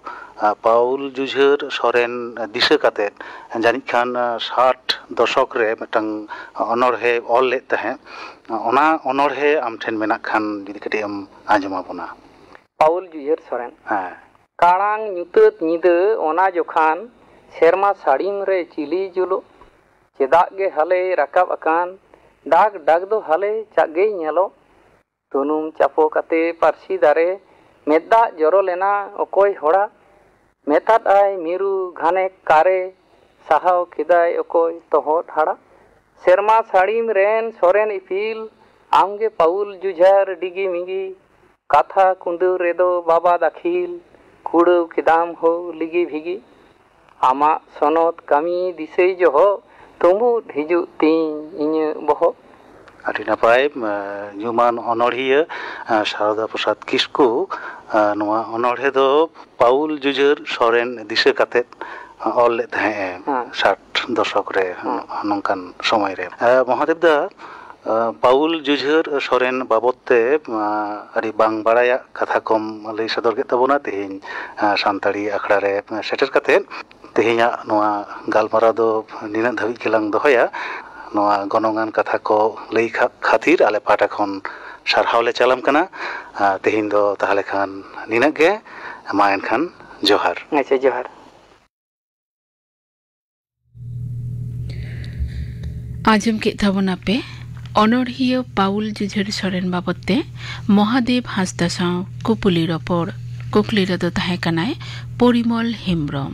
ᱯᱟᱣᱩᱞ ᱡᱩᱡᱷᱟᱹᱨ ᱥᱚᱨᱮᱱ ᱫᱤᱥᱟᱹ ᱠᱟᱛᱮᱫ ᱡᱟᱹᱱᱤᱡ ᱠᱷᱟᱱ ᱥᱟᱴ ᱫᱚᱥᱚᱠ ᱨᱮ ᱢᱤᱫᱴᱟᱝ ᱚᱱᱚᱬᱦᱮ ᱚᱞ ᱞᱮᱫ ᱛᱟᱦᱮᱸᱫ ᱚᱱᱟ ᱚᱱᱚᱬᱦᱮ ᱟᱢ ᱴᱷᱮᱱ ᱢᱮᱱᱟᱜ ᱠᱷᱟᱱ ᱡᱩᱫᱤ ᱠᱟᱹᱴᱤᱡ ᱮᱢ ᱟᱸᱡᱚᱢ ᱟᱵᱚᱱᱟ ᱯᱟᱣᱩᱞ ᱡᱩᱡᱷᱟᱹᱨ ᱥᱚᱨᱮᱱ ᱦᱮᱸ ᱠᱟᱬᱟᱝ ᱧᱩᱛᱟᱹᱛ ᱧᱤᱫᱟᱹ ᱚᱱᱟ ᱡᱚᱠᱷᱟᱱ ᱥᱮᱨᱢᱟ ᱥᱟᱹᱲᱤᱢ ᱨᱮ ᱪᱤᱞᱤᱭ ᱡᱩᱞᱩᱜ ᱪᱮᱫᱟᱜ ᱜᱮ ᱦᱟᱞᱮᱭ ᱨᱟᱠᱟᱵ ᱟᱠᱟᱱ ᱰᱟᱠ ᱰᱟᱠ ᱫᱚ ᱦᱟᱞᱮ ᱪᱟᱜ ᱜᱮᱭ ᱧᱮᱞᱚᱜ ᱥᱩᱱᱩᱢ ᱪᱟᱯᱚ ᱠᱟᱛᱮ ᱯᱟᱹᱨᱥᱤ ᱫᱟᱨᱮ ᱢᱮᱫ ᱫᱟᱜ ᱡᱚᱨᱚ ᱞᱮᱱᱟ ᱚᱠᱚᱭ ᱦᱚᱲᱟᱜ ᱢᱮᱛᱟᱫ ᱟᱭ ᱢᱤᱨᱩ ᱜᱷᱟᱱᱮᱠ ᱠᱟᱨᱮ ᱥᱟᱦᱟᱣ ᱠᱮᱫᱟᱭ ᱚᱠᱚᱭ ᱛᱚᱦᱚᱫ ᱦᱟᱲᱟᱜ ᱥᱮᱨᱢᱟ ᱥᱟᱹᱲᱤᱢ ᱨᱮᱱ ᱥᱚᱨᱮᱱ ᱤᱯᱤᱞ ᱟᱢ ᱜᱮ ᱯᱟᱹᱣᱩᱞ ᱡᱩᱡᱷᱟᱨ ᱰᱤᱜᱤ ᱢᱤᱜᱤ ᱠᱟᱛᱷᱟ ᱠᱩᱸᱫᱟᱹᱣ ᱨᱮᱫᱚ ᱵᱟᱵᱟ ᱫᱟᱹᱠᱷᱤᱞ ᱠᱩᱲᱟᱹᱣ ᱠᱮᱫᱟᱢ ᱦᱳ ᱞᱤᱜᱤ ᱵᱷᱤᱜᱤ᱾ ᱟᱢᱟᱜ ᱥᱚᱱᱚᱛ ᱠᱟᱹᱢᱤ ᱫᱤᱥᱟᱹᱭ ᱡᱚᱦᱚᱜ᱾ ᱛᱩᱢᱵᱩᱫ ᱦᱤᱡᱩᱜ ᱛᱤᱧ ᱤᱧᱟᱹᱜ ᱵᱚᱦᱚᱜ᱾ ᱟᱹᱰᱤ ᱱᱟᱯᱟᱭ ᱧᱩᱢᱟᱱ ᱚᱱᱚᱬᱦᱤᱭᱟᱹ ᱥᱟᱨᱚᱫᱟ ᱯᱨᱚᱥᱟᱫᱽ ᱠᱤᱥᱠᱩ ᱱᱚᱣᱟ ᱚᱱᱚᱬᱦᱮ ᱫᱚ ᱯᱟᱣᱩᱞ ᱡᱩᱡᱷᱟᱹᱨ ᱥᱚᱨᱮᱱ ᱫᱤᱥᱟᱹ ᱠᱟᱛᱮ ᱚᱞ ᱞᱮᱫ ᱛᱟᱦᱮᱸᱫ ᱮ ᱥᱟᱴ ᱫᱚᱥᱚᱠ ᱨᱮ ᱱᱚᱝᱠᱟᱱ ᱥᱚᱢᱚᱭ ᱨᱮ ᱢᱚᱦᱟᱫᱮᱵᱽ ᱫᱟ ᱯᱟᱣᱩᱞ ᱡᱩᱡᱷᱟᱹᱨ ᱥᱚᱨᱮᱱ ᱵᱟᱵᱚᱛ ᱛᱮ ᱟᱹᱰᱤ ᱵᱟᱝ ᱵᱟᱲᱟᱭᱟᱜ ᱠᱟᱛᱷᱟ ᱠᱚᱢ ᱞᱟᱹᱭ ᱥᱚᱫᱚᱨ ᱠᱮᱫ ᱛᱟᱵᱚᱱᱟ ᱛᱮᱦᱮᱧ ᱥᱟᱱᱛᱟᱲᱤ ᱟᱠᱷᱲᱟ ᱨᱮ ᱥᱮᱴᱮᱨ ᱠᱟᱛᱮ ᱛᱮᱦᱮᱧᱟᱜ ᱱᱚᱣᱟ ᱜᱟᱞᱢᱟᱨᱟᱣ ᱫᱚ ᱱᱤᱱᱟᱹᱜ ᱫᱷᱟᱹᱵᱤᱡ ᱜᱮᱞᱟᱝ ᱫᱚᱦᱚᱭᱟ ᱱᱚᱣᱟ ᱜᱚᱱᱚᱝ ᱟᱱ ᱠᱟᱛᱷᱟ ᱠᱚ ᱞᱟᱹᱭ ᱠᱷᱟᱹᱛᱤᱨ ᱟᱞᱮ ᱯᱟᱦᱴᱟ ᱠᱷᱚᱱ ᱥᱟᱨᱦᱟᱣ ᱞᱮ ᱪᱟᱞᱟᱢ ᱠᱟᱱᱟ ᱛᱮᱦᱮᱧ ᱫᱚ ᱛᱟᱦᱚᱞᱮ ᱠᱷᱟᱱ ᱱᱤᱱᱟᱹᱜ ᱜᱮ ᱢᱟ ᱮᱱᱠᱷᱟᱱ ᱡᱚᱦᱟᱨ ᱟᱪᱪᱷᱟ ᱡᱚᱦᱟᱨ ᱟᱸᱡᱚᱢ ᱠᱮᱫ ᱛᱟᱵᱚᱱᱟᱯᱮ ᱚᱱᱚᱲᱦᱤᱭᱟᱹ ᱯᱟᱣᱩᱞ ᱡᱤᱡᱷᱟᱹᱲ ᱥᱚᱨᱮᱱ ᱵᱟᱵᱚᱛ ᱛᱮ ᱢᱚᱦᱟᱫᱮᱵ ᱦᱟᱸᱥᱫᱟ ᱥᱟᱶ ᱠᱩᱯᱩᱞᱤ ᱨᱚᱯᱚᱲ ᱠᱩᱠᱞᱤ ᱨᱮᱫᱚ ᱛᱟᱦᱮᱸ ᱠᱟᱱᱟᱭ ᱯᱚᱨᱤᱢᱚᱞ ᱦᱮᱢᱵᱨᱚᱢ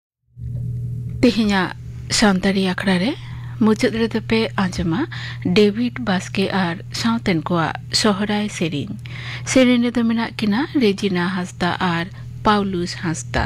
ᱛᱮᱦᱮᱧᱟᱜ ᱥᱟᱱᱛᱟᱲᱤ ᱟᱠᱷᱲᱟ ᱨᱮ ᱢᱩᱪᱟᱹᱫ ᱨᱮᱫᱚ ᱯᱮ ᱟᱸᱡᱚᱢᱟ ᱰᱮᱵᱷᱤᱰ ᱵᱟᱥᱠᱮ ᱟᱨ ᱥᱟᱶᱛᱮᱱ ᱠᱚᱣᱟᱜ ᱥᱚᱦᱨᱟᱭ ᱥᱮᱨᱮᱧ ᱥᱮᱨᱮᱧ ᱨᱮᱫᱚ ᱢᱮᱱᱟᱜ ᱠᱤᱱᱟ ᱨᱮᱡᱤᱱᱟ ᱦᱟᱸᱥᱫᱟ ᱟᱨ ᱯᱟᱣᱞᱩᱥ ᱦᱟᱸᱥᱫᱟ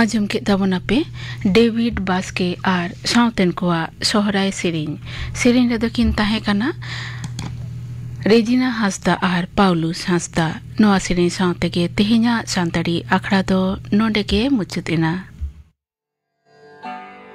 ᱟᱸᱡᱚᱢ ᱠᱮᱫ ᱛᱟᱵᱚᱱᱟᱯᱮ ᱰᱮᱵᱷᱤᱰ ᱵᱟᱥᱠᱮ ᱟᱨ ᱥᱟᱶᱛᱮᱱ ᱠᱚᱣᱟᱜ ᱥᱚᱦᱨᱟᱭ ᱥᱮᱨᱮᱧ ᱥᱮᱨᱮᱧ ᱨᱮᱫᱚ ᱠᱤᱱ ᱛᱟᱦᱮᱸ ᱠᱟᱱᱟ ᱨᱮᱡᱤᱱᱟ ᱦᱟᱸᱥᱫᱟ ᱟᱨ ᱯᱟᱣᱞᱩᱥ ᱦᱟᱸᱥᱫᱟ ᱱᱚᱣᱟ ᱥᱮᱨᱮᱧ ᱥᱟᱶ ᱛᱮᱜᱮ ᱛᱮᱦᱮᱧᱟᱜ ᱥᱟᱱᱛᱟᱲᱤ ᱟᱠᱷᱲᱟ ᱫᱚ ᱱᱚᱸᱰᱮ ᱜᱮ ᱢᱩᱪᱟᱹᱫ ᱮᱱᱟ